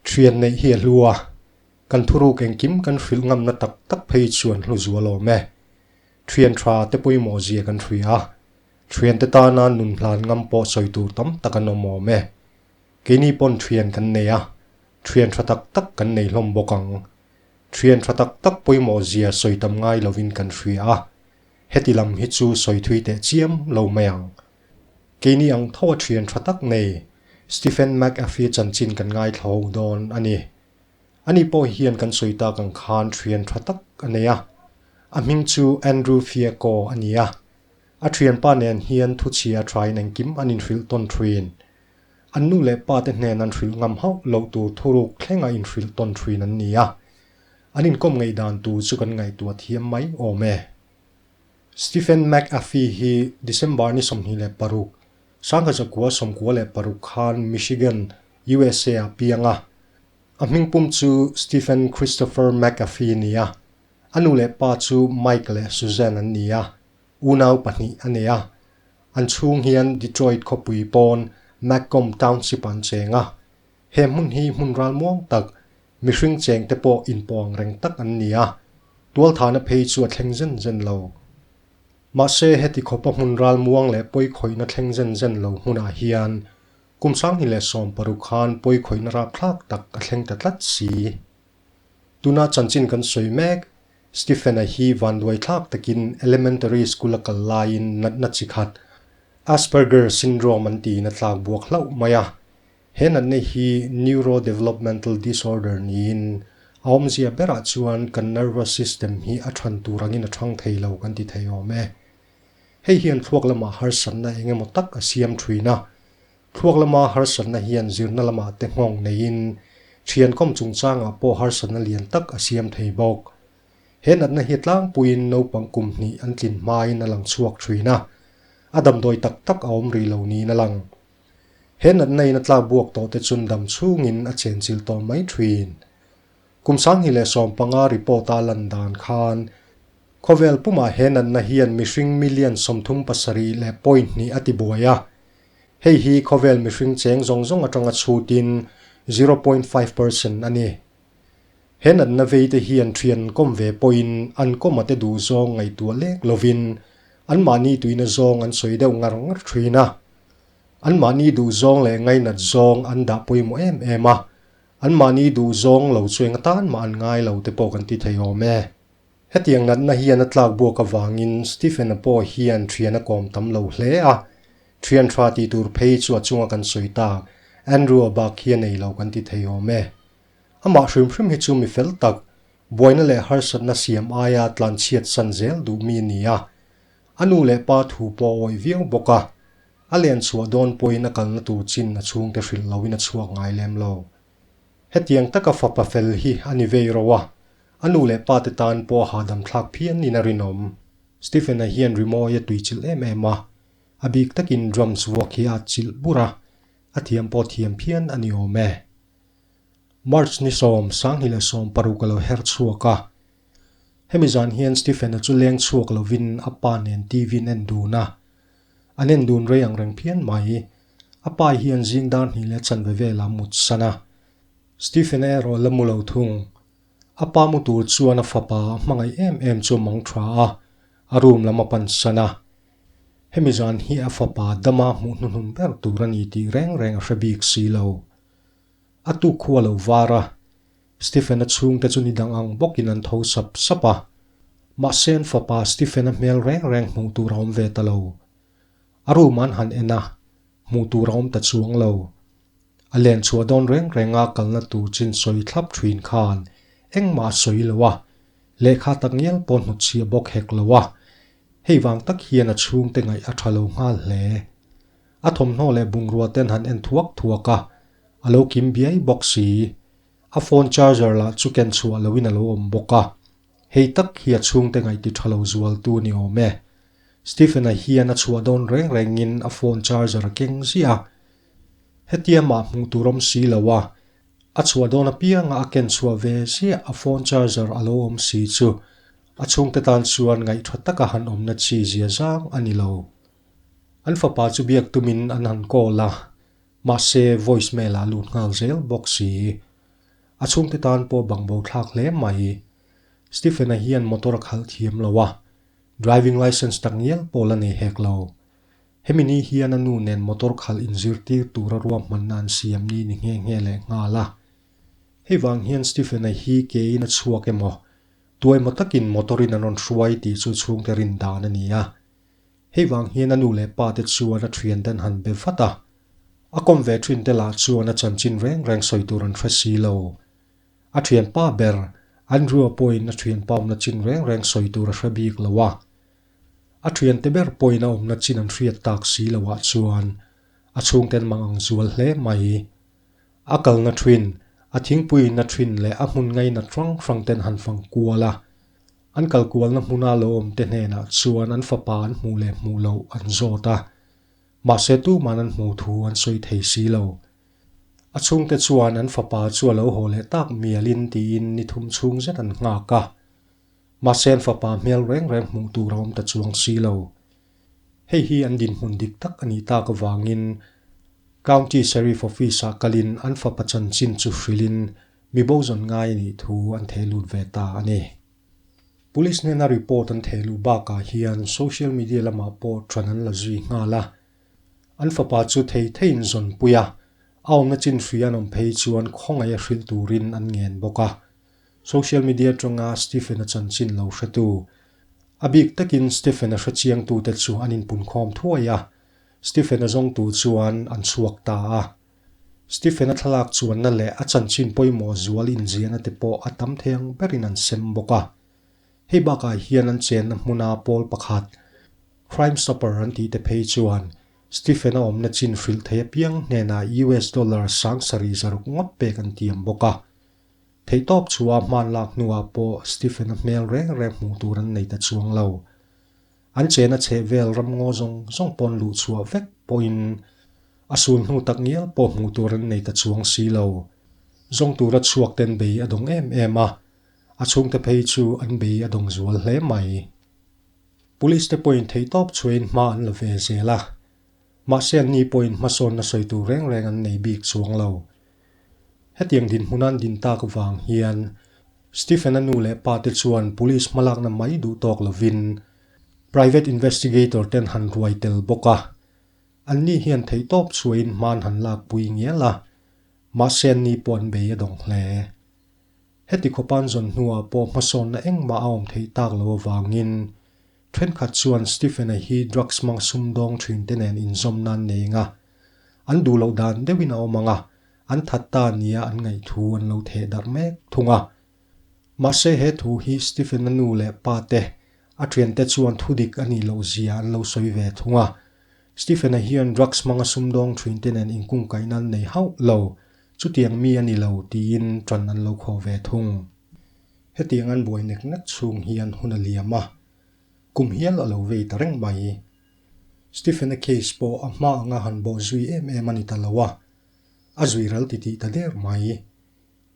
Thian neih hi a hlu a, kan thuruk engkim kan hrilh ngamna tak tak phei chu an hlu zual awm e. Thian tha te pawimawh zia kan hria a, thian te tana nun hlan ngam pawh sawi tur tam tak an awm awm e. Keini pawn thian kan nei a, thian tha tak tak kan nei hlawm bawk ang. Thian tha tak tak pawimawh zia sawi tam ngai lovin kan hria a. Heti lam hi chu sawi thui teh chiam lo mai ang. Keini ang tho a thian tha tak ngei, Stephen McAfee chanchin kan ngaithlo dawn a ni. Ani pawh hian kan sawi tak ang khan thian tha tak a nei a. A hming chu Andrew Fiaco a ni a. A thianpa nen hian thuchhia thain engkim an inhrilh tawn thin. An nu leh pate hnen an hrilh ngam hauh loh tur thuruk thleng a inhrilh tawn thin an ni a. An inkawm ngeidan tur chu kan ngaihtuah thiam mai awm e. Stephen McAfee hi December ni sawmhnih leh paruk, Sangha Zakua sawmkua leh paruk khan Michigan, usa ah piang a. A hming pum chu Stephen Christopher McAfee a ni a. A nu leh pa chu Mike leh Suzanne an ni a, unau pahnih a nei a. An chhung hian Detroit khawpui pawn Macomb Township ah an cheng a. He hmun hi hmun ralmuang tak, mihring chengte pawh inpawng reng tak an ni a, tualthana phei chu a thleng zen zen lo. Mahse, heti khawpa hmun ralmuang leh pawikhawihna thleng zen zen lo hmunah hian Kum Sangni leh Sawm paruk khan pawikhawihna rapthlak tak a thleng ta tlat si. Tuna chanchin kan sawi mek, Stephen-a hi vanduaithlak takin elementary school a kal laiin natna chi khat, Asperger syndrome an tiin a tlakbuak hlauh mai a, He natna hi neurodevelopmental disorder niin, a awmzia berah chuan kan nervous system hi a ṭhan tur angin a ṭhang thei lo kan ti thei awm e. Hei hian thluak lama harsatna eng emaw tak a siam ṭhin a. Thluak lama harsatna hian zirna lamah te nghawng neiin, ṭhiankawm chungchangah pawh harsatna lian tak a siam thei bawk. He natna hi tlangpuiin naupang kum hnih an tlin hmain a lang chhuak ṭhin a. A damdawi tak tak a awm rih lo niin a lang. He natna in a tlak buak tawh te chun dam chhung in a chen chil tawh mai thin. Kum Sanghi leh Sawm panga report a lan dan khan khawvel pum ah he natna hian mihring million sawmthum pasarih leh point hnih a ti buai a. Hei hi khawvel mihring cheng zawng zawng atanga chhut in zero point five percent a ni. He natna veite hian thiankawm ve pawhin an kawmate duh zawng ngaihtuah lek lovin anmahni tuina zawng an sawi deuh ngar ngar thin a. Anmahni duh zawng leh ngainat zawng an dah pawimawh em em a, anmahni duh zawng lo chu enga tan mah an ngai lo te pawh kan ti thei awm e. Hetiang natna hian a tlak buak avangin Stephen-a pawh hian thian a kawm tam lo hle a. Thianṭha ti tur phei chu a chunga kan sawi tak, Andrew-a bak hi a nei lo kan ti thei awm e. Amah hrim hrim hi chu mi fel tak, buaina leh harsatna siam aia tlanchhiat san zel duh mi ni a. A nu leh pa thu pawh a awih viau bawk a. A len chhuah dawn pawhin a kalna tur chin a chhungte hrilh loin a chhuak ngai lem lo. Hetiang taka fapa fel hi a ni vei ro a, a nu leh pa te tan pawh a hahdam thlak phian niin a rinawm. Stephen-a hian rimawi a tui chilh em em a, a bik takin drums vuak hi a at chilh bur a, a thiam pawh thiam phian a ni awm e. March ni sawm Sanghnih leh sawm paruk a lo her chhuak a. Hemi zan hian Stephen-a chu leng chhuak lovin a pa nen TV-in en dun a. An en dun rei ang reng phian mai i, a pai hian zing dar hnih leh chanve vela mut san a. Stephen-a erawh la mu lo thung. A pa mu tur chuan a fapa a hmangaih em em chu a mang tha a, a room lam a pan san a. Hemi zan hi a fapa dama hmuh hnuhnun ber tur a ni tih reng reng a hre bik si lo. A tu khuwa lo var a, Stephen-a chhung te chu ni dang ang bawkin an tho sap sap a. Mahse an fapa Stephen-a hmel reng reng hmuh tur a awm ve ta lo. A room an han en a, hmuh tur a awm ta chuang lo. A len chhuah dawn reng reng a kalna tur chin sawi thlap thin khan engmah a sawi lo a, lehkha tak ngial pawh hnutchhia bawk hek lo a. Hei vang tak hian a chhungte ngaih a tha lo nghal hle. A thawmhnaw leh bungrua ten han en thuak thuak a, a lo kim biai bawk si. A phone charger lah chu ken chhuah loin a lo awm bawk a. Hei tak hi a chhungte ngaih ti tha lo zual tu ni awm e. Stephen-a hian a chhuah dawn reng rengin a phone charger a keng ziah a. Hetia mah hmuh tur awm si lo a, a chhuah dawn apianga a ken chhuah ve ziah a phone charger a lo awm si chu A chhungte tan chuan ngaih tha taka han awmna chi zia zang a ni lo. An fapa chu biak tumin an han call a, mahse voice mail ah lut nghal zel bawk si. A chhungte tan pawh bang bo thlak hle mai. Stephen a hian motor a khalh thiam lo a, driving licence tak ngial pawh la nei hek lo. Hemi ni hian a nu nen motor khalh in zirtir tura ruahmanna an siam ni ni nghe nghe leh nghal a. Hei vang hian Stephen a hi keiin a chhuak emaw, Tuaima takin motor-in an rawn hruai tih chu chhungte rin dan a ni a. Hei vang hian a nu leh pa te chuan a thian ten han be vat a. A kawm ve thin te lah chuan a chanchin reng reng sawi tur an hre si lo. A thian pa ber, Andrew-a pawhin a thian pa awmna chin reng reng sawi tur a hre bik lo a. A thiante ber pawhin a awmna chin an hriat tak si lo ah chuan a chhungte an mang ang zual hle mai. A kalna ṭhin, a thingpuina ṭhin leh a hmun ngaina hrang hrang ten han fang kual a. An kal kualna hmuna lo awmte hnenah chuan an fapa an hmuh leh hmuh loh an zawt a. Mahse tuman an hmuh thu an sawi thei si lo. A chhungte chuan an fapa chu a lo haw leh tak mialin tiin ni thum chhung zet an nghak a. Mahsen fapa hmel reng reng hmuh tur a awm ta chuang si lo. Hei hi an dinhmun dik tak a nih tak avangin County Sheriff Office ah kalin an fapa chanchin chu hrilhin mibo zawn ngai a nih thu an thei lut ve ta a ni. Police hnena report an thei luh bakah hian social media lamah pawh ṭhan an la zui nghal a. An fapa chu thei theiin zawnpui a, a awmna chin hria nawm phei chuan khawngaih a hril turin an ngen bawk a. Social media tanga Stephen-a chanchin lo hratu, a bik takin Stephen-a hre chiangtute chu an inpunkhawm thuai a, Stephen-a zawngtu chuan an chhuak ta a. Stephen-a thlalak chuanna leh a chanchin pawimawh zual inziahna te pawh a tam theng berin an sem bawk a. Hei bakah hian an chenna hmuna pawl pakhat, Crime Stopper an tihte phei chuan Stephen-a awmna chin hrilh thei apiang hnenah US dollar sang sarih zaruk ngawt pek an tiam bawk a. Theihtawp chhuaa hmaan lak hnuah pawh Stephen-a hmel reng reng hmuh tur an nei ta chuang lo. An chena chheh vel ram ngaw zawng zawng pawn luh chhuah vek pawhin a sun hnu tak ngial pawh hmuh tur an nei ta chuang si lo. Zawng tura chhuak ten bei a dawng em em a, a chhungte phei chu an bei a dawng zual hle mai. Police te pawhin theihtawp chhuain hma an la ve zel a, mahse anni pawhin hmasawnna sawi tur reng reng an nei bik chuang lo. Hetiang dinhmun an din tak vang hian Stephen a nu leh pa te chuan Police hmalakna mai duh tawk lovin Private Investigator ten han ruai tel bawk a, an ni hian theihtawp chhuain hmaan han lak pui ngial a, mahse an ni pawh an bei a dawng hle. Heti khawpan zawn hnuah pawh hmasawnna engmah a awm theih tak lo avangin thenkhat chuan Stephen-a hi drugs hmang sumdawng thinte nen inzawmna an nei ang a, An duh loh dan deuhin a awm ang a, an that ta nia an ngaih thu an lo theh darh mek thung a. Mahse he thu hi Stephen a nu leh pa te, a thiante chuan thu dik a nih loh zia an lo sawi ve thung a. Stephen-a hian drugs hmang a sum dawng thin te nen inkungkaihna an nei hauh lo, chutiang mi a ni lo tiin tan an lo khawh ve thung. Hetiang an buai nek nek chhung hian hun a liam a, kum hial a lo vei ta reng mai. Stephen-a case pawh a hma anga han bawh zui em em a ni ta lo a, a zui ral ti tih ta der mai.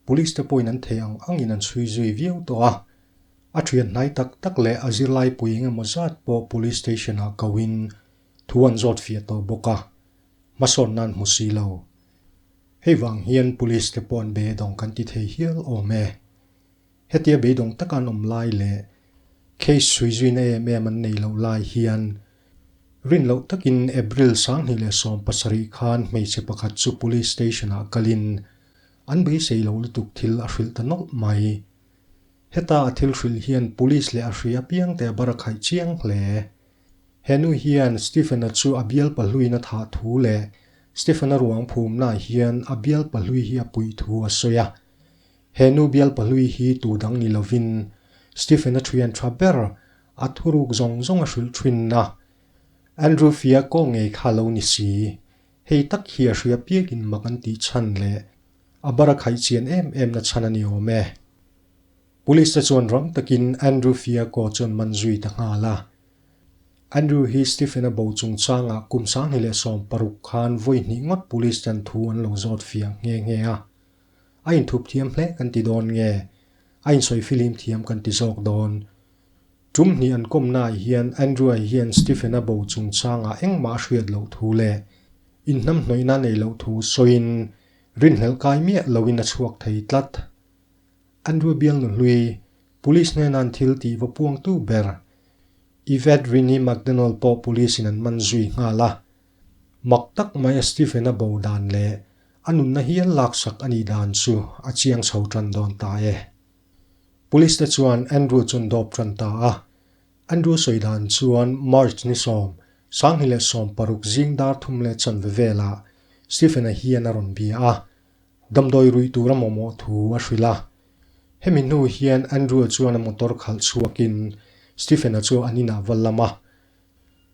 Police te pawhin an thei ang angin an chhui zui viau tawh a, a thian hnai tak tak leh a zirlaipui eng emaw zat pawh police station-ah koin thu an zawt fiah tawh bawk a, hmasawn nan hmu si lo. Hei vang hian police te pawh an be dawng kan ti thei hial awm e. Hetia beidawng taka an awm lai leh case hrui zuina em em an nei loh lai hian rin loh takin April sang hnih leh sawm pasarih khan hmeichhe pakhat chu police station-ah kalin an beisei lo lutuk thil a hrilh ta nawlh mai. Heta a thil hrilh hian police leh a hri apiang te a barakhaih chiang hle. He nu hian Stephen-a chu a bial pahluina thah thu leh Stephen-a ruang phumnaah hian a bial pahlui hi a puih thu a sawi a. He nu bialpa hlui hi tu dang ni lovin Stephen a thian tha ber, a thuruk zawng zawng a hrilh thin a. Andrew fia kaw ngei kha lo ni si, hei tak hi a hria piakin mak an tih chhan leh a bar a khaih chian em em na chhan a ni awm e. Police te chuan rang takin Andrew fia kaw chuan man zui ta nghal a. Andrew hi Stephen a bo chung changah kum sanghni leh sawm paruk khan vawi hnih ngawt police ten thu an lo zawt fiah nghe nghe a. A inthup thiam hle kan ti dawn nge? A insawi filim thiam kan ti zawk dawn. Tum hnih an kawmnaah hian Andrew-a hian Stephen-a bo chungchangah engmah a hriat loh thu leh inhnam hnawihna nei loh thu sawiin rinhlelh kai miah loin a chhuak thei tlat. Andrew bialnu hlui police hnena an thil tih va puangtu ber Yvette Rinnie McDonald pawh police-in an man zui nghal a. Mak tak mai a Stephen-a bo dan leh a nunna hial lak sak a nih dan chu a chiang chho tan dawn ta e. Police-te chuan Andrew chuan dawp tan ta a. Andrew sawi dan chuan March ni sawm, Sanghni leh sawm paruk zing dar thum leh chanve velah Stephen-a hian a rawn bia a, damdawi ruih tura mawmawh thu a hrilh a. Hemi hnu hian Andrew-a chuan a motor khalh chhuakin Stephen-a chu an inah va lam a,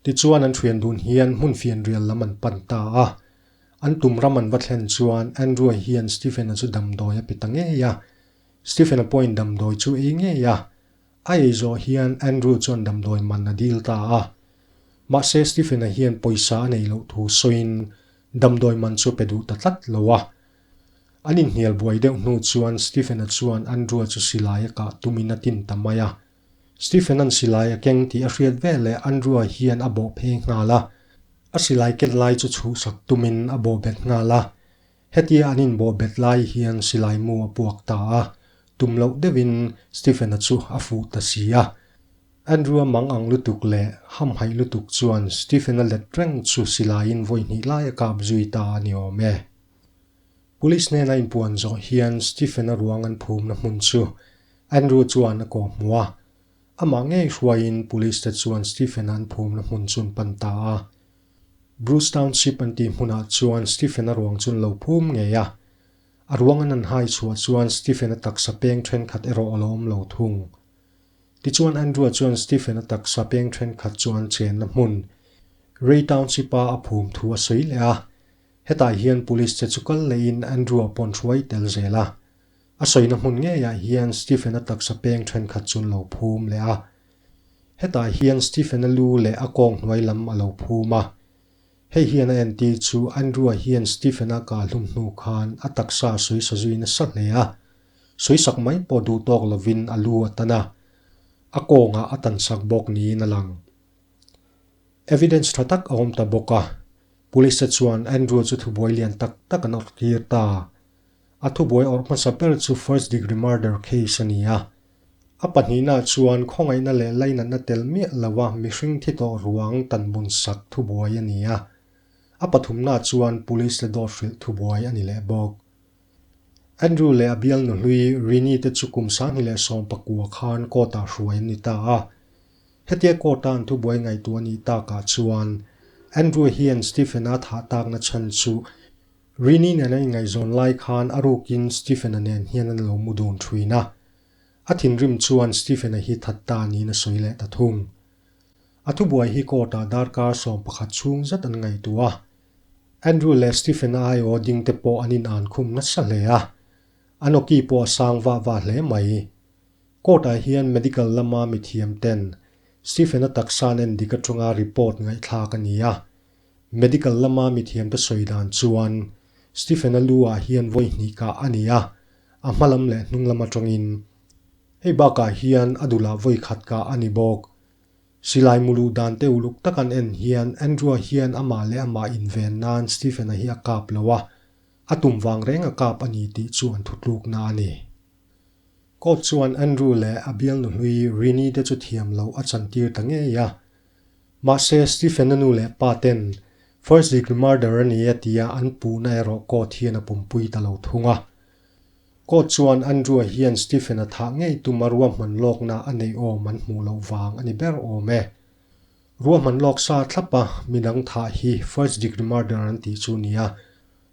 Tichuan an thian dun hian hmun fian rial lam an pan ta a. An tum ram an va thlen chuan Andrew-a hian Stephen-a chu damdawi a pe ta ngei a. Stephen-a pawh in damdawi chu ei ngei a. A ei zawh hian Andrew chuan damdawi man a dil ta a. Mahse Stephen-a hian pawisa a nei loh thu sawiin damdawi man chu pe duh ta tlat lo a. An inhnial buai deuh hnu chuan Stephen-a chuan Andrew-a chu silai a kah tumin a tin ta mai a. Stephen an silai a keng tih a hriat vel leh Andrew-a hian a bawh phei nghal a, a silai ket lai chu chhuhsak tumin a bawhbet nghal a. Hetia an inbawhbet lai hian silai mu a puak ta a, tum loh deuhin Stephen-a chu a fuh ta si a. Andrew-a mang ang lutuk leh hamhaih lutuk chuan Stephen-a let reng chu silaiin vawi hnih lai a kap zui ta a ni awm e. Police hnena inpuan zawh hian Stephen-a ruang an phumna hmun chu Andrew chuan a kawh hmu a, amah ngei hruaiin police te chuan Stephen-a an phumna hmun chu an pan ta a. Bruce Township an tih hmunah chuan Stephen-a ruang chu an lo phum ngei a. A ruang an an hai chhuah chuan Stephen-a taksa peng thenkhat erawh a lo awm lo thung. Tichuan Andrew-a chuan Stephen-a taksa peng thenkhat chu an chenna hmun Ray Township-a a phum thu a sawi leh a. Hetah hian police te chu kal leiin Andrew-a pawn hruai tel zel a. A sawina hmun ngeiah hian Stephen-a taksa peng thenkhat chu an lo phum leh a. Hetah hian Stephen-a lu leh a kawng hnuai lam a lo phum a. Hei hian a entir chu Andrew-a hian Stephen-a kal hum hnu khan a taksa suisa zui nasa hle a. Suisak mai pawh duh tawk lovin a lu a tan a. A kawngah a tan sak bawk niin a lang. Evidence tha tak a awm ta bawk a. Police-a chuan Andrew chu thubuai lian tak tak an awrhtir ta. A thubuai awrh hmasa ber chu first degree murder case a ni a. A pahnihnaah chuan khawngaihna leh lainatna tel miah lova mihring thi tawh ruang tanbunsak thubuai a ni a. A pathumnaah chuan police le dawthrilh thubuai a ni leh bawk. Andrew leh a bialnu hlui Rini te chu kum sanghni leh sawm pakua khan court-ah hruai an ni ta a. Hetia court-a an thubuai ngaihtuah a nih takah chuan Andrew hian Stephen-a thah takna chhan chu, Rini nen a inngaihzawn lai khan a rukin Stephen-a nen hian an lo mu dun thuin a. A thinrim chuan Stephen-a hi that ta niin a sawi leh ta thung. A thubuai hi court-ah darkar sawm pakhat chhung zet an ngaihtuah a. Andrew leh Stephen-a aiawh dingte pawh an inân khum nasa hle a. A noki pawh a sang vah vah hle mai. Court-ah hian medical lama mithiamten Stephen-a taksa'n endik aṭanga report ngaihthlâk a ni a. Medical lama mithiamte sawi dan chuan Stephen-a lu-ah hian vawi hnih kah a ni a, a hma lam leh hnung lam atangin. Hei bakah hian a dulah vawi khat kah a ni bawk. Silai mulu dan te uluk tak an en hian Andrew-a hian amah leh amah inven nan Stephen-a hi a kap lo a, a tum vang reng a kap a ni tih chu an thutlukna a ni. Court chuan Andrew leh a bialnu hlui Rini-te chu thiam loh a chantir ta ngei a, Mahse, Stephen-a nu leh paten first degree murder a ni a tia an puhna erawh court hian a pumpui ta lo thung a. Court chuan Andrew-a hian Stephen-a thah ngei tum a ruahman lawkna a nei awm an hmuh loh vang a ni ber awm e. Ruahman lawk sa thlap a min ang thah hi first degree murder an tih chu nia,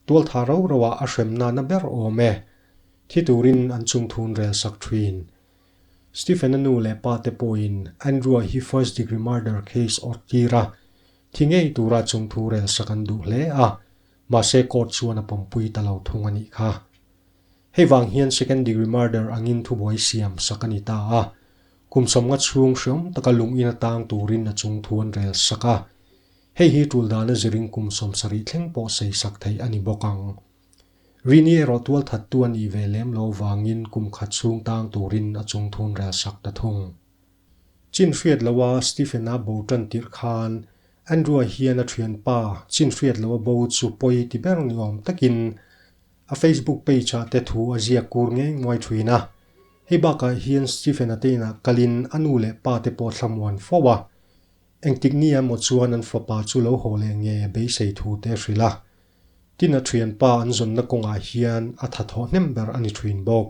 tual tha ro ro a a hrem nana ber awm e. Thi turin an chungthun rel sak thin. Stephen-a nu leh pate pawhin Andrew-a hi first degree murder case awrh tir a, thi ngei tura chung thu rel sak an duh hle a, mahse court chuan a pampui ta lo thung a nih kha. Hei vang hian second degree murder angin thubuai siam sak a ni ta a, kum sawmnga chhung hriawm taka lungin a tang turin a chung thu an rel sak a, hei hi tul dana zirin kum sawmsa rih thleng pawh seisak theih a ni bawk ang. Rini erawh tual that tu a nih ve lem lo vangin kum khat chhung tang turin a chung thun rel sak ta thung. Chin hriat loha Stephen a bo tan tirh khan Andrew-a hian a thianpa chin hriat loha bo chu pawi ti ber ni awm takin a Facebook page-ah te thu a ziak kur ngei nguai thin a. Hei bakah hian Stephen a teinah kalin a nu leh pa te pawh thlamuan fo a. Engtik ni emaw chuan an fapa chu lo haw leh nge beisei thu te hrilh a, Tina thianpa an zawnna kawngah hian a tha thawh hnem ber a ni thin bawk.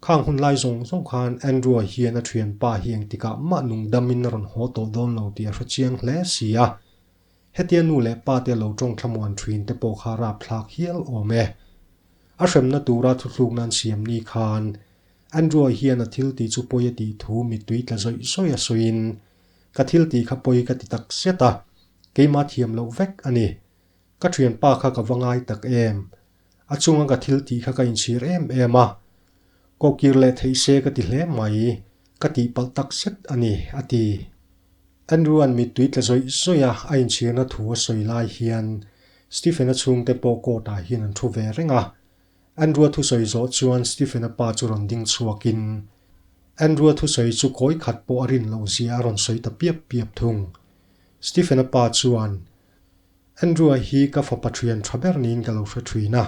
Khang hun lai zawng zawng khan Andrew-a hian a thianpa hi eng tikah mah nung damin a rawn haw tawh dawn lo tih a hre chiang hle si a. Hetia nu leh pa te lo tawng thlamuan thin te pawh kha rap thlak hial awm e. A hremna tura thuthluk nan siam ni khan Andrew-a hian a thil ti chu pawi a tih thu mittui tla zawih zawih a sawiin, Ka thil ti kha pawi ka ti takzet a, keimah thiam loh vek a ni. Ka thianpa kha ka va ngai tak em? A chunga ka thil tih kha ka inchhir em em a, kokir leh theih se ka ti hle mai, ka tihpalh tak zet a ni, a ti. Andrew-a'n mittui tle zawih zawia a inchhirna thu a sawi lai hian Stephen-a chhungte pawh court-ah hian an thu ve reng a. Andrew-a thusawi zawh chuan Stephen-a pa chu rawn ding chhuakin Andrew-a thusawi chu kawi khat pawh a rin loh zia a rawn sawi ta piap piap thung. Stephen-a pa chuan Andrew-a hi ka fapa ṭhian ṭha ber niin ka lo hre ṭhin a.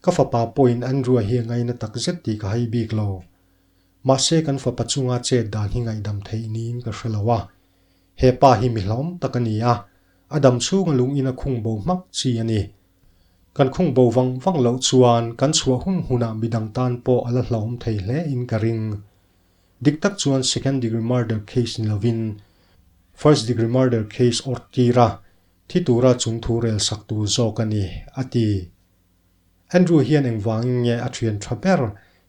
Ka fapa pawhin Andrew-a hi a ngaina tak zet tih ka hai bik lo. Mahse kan fapa chunga chet dan hi ngaihdam theih niin ka hre lo a. He pa hi mi hlawm tak a ni a, a dam chhunga lungin a khung bo hmak chi a ni. Kan khung bo vang vang loh chuan kan chhuah hun hunah midang tan pawh a la hlawm thei hle in ka ring. Dik tak chuan second degree murder case ni lovin first degree murder case awrh tir a, thi tura chung thu rel sak tur zawk a ni, a ti. Andrew hian engvangin nge a thian tha ber?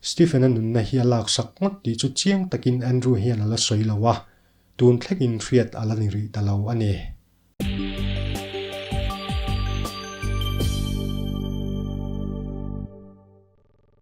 Stephen-a nunna hi a lak sak ngawt tih chu chiang takin Andrew hian a la sawi lo a, tun thlengin hriat a la ni rih ta lo a ni.